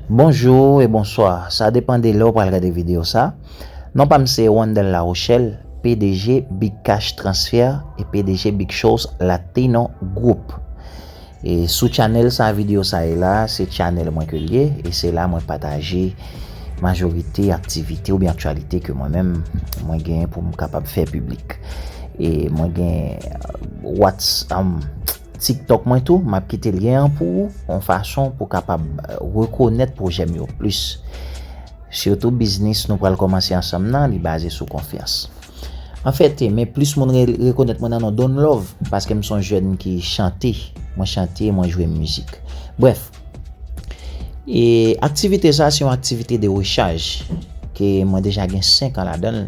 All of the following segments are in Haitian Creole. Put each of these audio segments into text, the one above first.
Bonjou e bonswa sa depan de lè ou pral gade video sa non pam se Wandel Larochelle pdg big cash transfer e pdg big shows latino group e sou channel sa video sa ye la se channel mwen ke liye e se la mwen pataje majorite aktivite oubyen aktyalite ke mwen menm mwen gen poum kapab fè piblik e mwen gen what's am. Tiktok mwen tou map kite lyen an pou ou yon fason pou kapab rekonèt pwojè m yo plis sitou biznis nou pral kòmanse ansanm nan li baze sou konfyans an fète men plis moun rekonèt mwen nan non Don Love paske m son jèn ki chante mwen chante mwen jwe mizik brèf e aktivite sa se yon aktivite de rechaj ke mwen deja gen 5 an ladanl.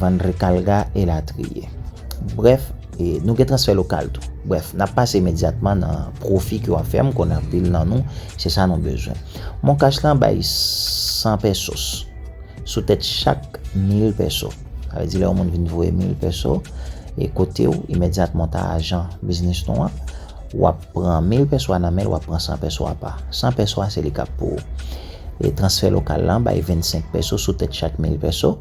Vann rekalga elatriye. Brèf, nou gen transfè lokal tou. Brèf, n ap pase imedyatman nan pwofi ke w ap fè. M konnen anpil nan nou, se sa nou bezwen. Moncash lan bay 100 pesos sou tèt chak 1000 peso. Sa vle di lè yon moun vin voye 1000 peso e kote w, imedyatman w ta ajan biznis nou an, w ap pran 1000 peso a nan men l, w ap pran 100 peso a pa. 100 peso a se li k ap pou ou. E transfè lokal lan bay 25 peso sou tèt chak 1000 peso.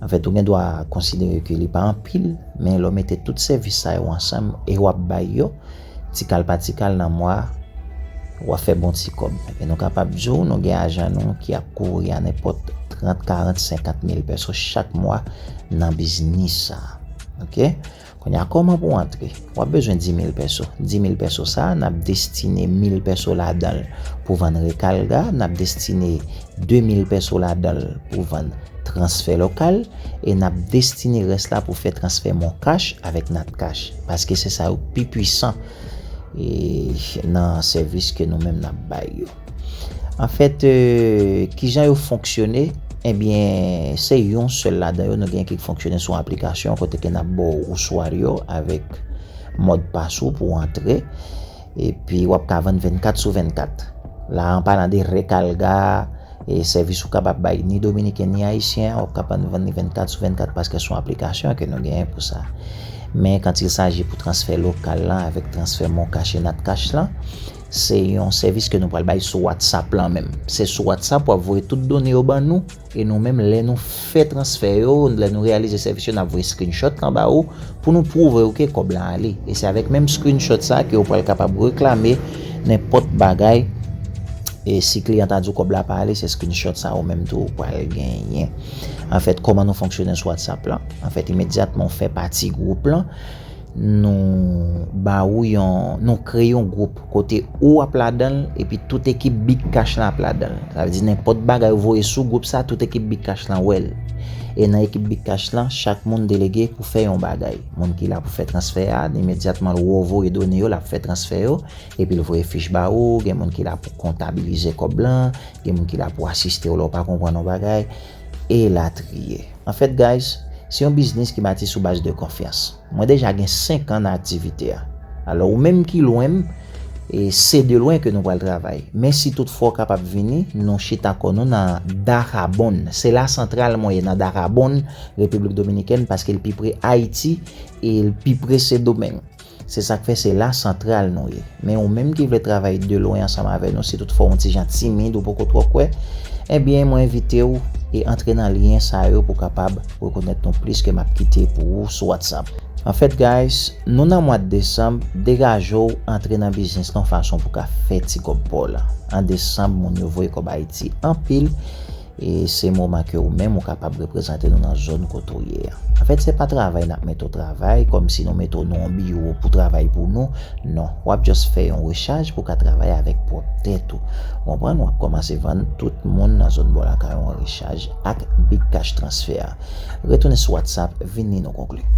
Anfèt, ou gen dwa konsidere ke li pa anpil, men lè w mete tout sèvis sa yo ansanm e w ap bay yo tikal pa tikal nan mwa a, w ap fè bon ti kòb. E nou kapab di w nou gen ajan nou ki ap kouvri anenpòt trant, karant, senkant mil pèso chak mwa nan biznis sa a. Ok? Kounya kòman pou antre? Wap bezwen 10000 pèso. 10000 pèso sa a nap destine 1000 pèso ladanl pou vann rekalga, nap destine 2000 pèso ladanl pou vann transfè lokal e nap destine rès la pou fè transfè moncash avèk natcash paske se sa yo k pi pwisan nan sèvis ke nou menm nap bay yo. Anfèt, ki jan yo fonksyone? Ebyen, se yon sèl ladan yo, nou gen ki fonksyone sou aplikasyon kote ke n ap ba w ouswari yo avèk modpas ou pou w antre. Epi, w ap ka vann 24 sou 24. La a, an palan de rekalga, e sèvis ou kapab bay ni Dominiken ni Ayisyen, w ap kapab vann li 24 sou 24 paske son aplikasyon ke nou genyen pou sa. Men, kantil saji pou transfè lokal lan avèk transfè moncash e natcash lan, Se yon sèvis ke nou pral bay sou WhatsApp lan menm. Se sou WhatsApp wap voye tout done yo ban nou e nou menm lè nou fè transfè yo, lè nou reyalize sèvis yo nap voye screenshot lan ba ou pou nou pwouve ou ke kòb lan ale. E se avèk menm screenshot sa ke ou pral kapab reklame nenpòt bagay e si kliyan ta di ou kòb la pa ale se screenshot sa ou menm tou ou pral genyen. Anfèt kòman nou fonksyone sou WhatsApp lan? Anfèt imedyatman ou fè pati gwoup lan. nou ba ou yon, nou kreye yon gwoup kote ou ap ladan l epi tout ekip Big Cash lan ap ladan l. Sa vle di nenpòt bagay ou voye sou gwoup sa tout ekip Big Cash lan wè l. E nan ekip Big Cash lan, chak moun delege pou fè yon bagay. Moun ki la pou fè transfè a, imedyatman ou wè w voye done yo l ap fè transfè yo, epi l voye fich ba ou, gen moun ki la pou kontabilize kòb lan, gen moun ki la pou asiste w lè w pa konprann yon bagay. elatriye. Anfèt guys, se yon biznis ki bati sou baz de konfyans. Mwen deja gen 5 an nan aktivite a. Alò ou menm ki lwen m, e se de lwen ke nou pral travay. Men si tout fwa w kapab vini, nou chita kò nou nan Dajabón. Se la santral mwen ye nan Dajabón, Repiblik Dominikèn, paske l pi pre Ayiti e l pi pre Sendomeng. Se sak fè se la santral nou ye. Men ou menm ki vle travay de lwen ansanm avè nou si tout fò on ti jan timid ou poko twò kwè, ebyen mwen envite ou e antre nan lyen sa yo pou kapab rekonèt nou plis ke map kite pou ou sou WhatsApp. En fait guys, nou nan mwad desanm, degaje w antre nan biznis lan on fason pou ka fè ti kòb pa w lan. An desanm moun yo voye kòb Ayiti anpil E se moman ke ou menm ou kapab reprezante nou nan zòn kote ou ye a. Anfèt, se pa travay nap mete w travay, kòm si nou mete w nan yon biwo pou travay pou nou, non. Wap just fè yon rechaj pou ka travay avèk pwòp tèt ou. Ou konprann? Wap kòmanse vann tout moun nan zòn bò lakay ou an rechaj ak Big Cash Transfer. Retounen sou WhatsApp, vin li nou konkli.